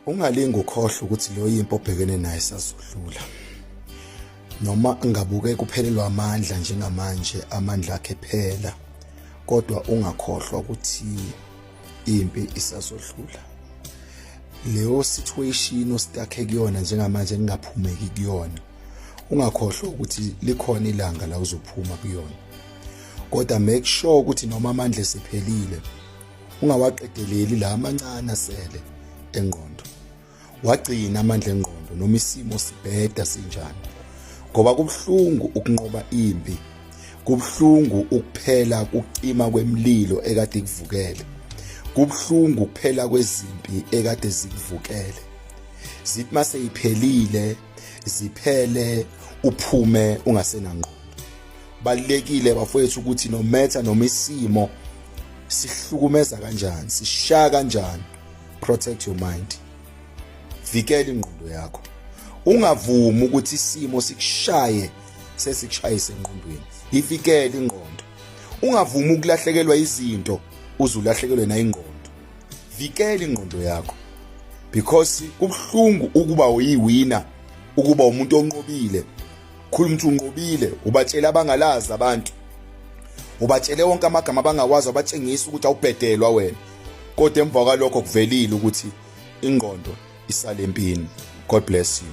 ungalingi ukhohlwa ukuthi leyo yimpi obhekene naye sazodlula noma ngabuke kuphelelwa amandla njengamanje amandla akhe phela kodwa ungakhohlwa ukuthi impi isazodlula leyo situation ostakhe kuyona njengamanje engaphumeki kuyona ungakhohlwa ukuthi likhona ilanga la uzophuma kuyona kodwa make sure ukuthi noma amandla esephelile ungawaqedeleli la amancane asele engqondo wagcina amandla engqondo noma isimo sibheda sinjani ngoba kubuhlungu ukunqoba impi kubuhlungu ukuphela kucima kwemlilo ekade kuvukele kubuhlungu ukuphela kwezimpi ekade zikuvukele zithi mase iphelile ziphele uphume ungasenangqondo balekile bafowethu ukuthi no matter noma isimo sihlukumeza kanjani sishaya kanjani protect your mind vikela ingqondo yakho ungavumi ukuthi isimo sikushaye sesikushayise engqondweni ivikele ingqondo ungavumi ukulahlekelwa izinto uzulahlekelwe nayingqondo vikela ingqondo yakho because kubuhlungu ukuba uyiwina ukuba umuntu onqobile khuluma ukuthi unqobile ubatshela abangalazi abantu ubatshele wonke amagama abangawazi abatshengisa ukuthi awubhedelwa wena kodwa emva kwalokho kuvelile ukuthi ingqondo isalempini god bless you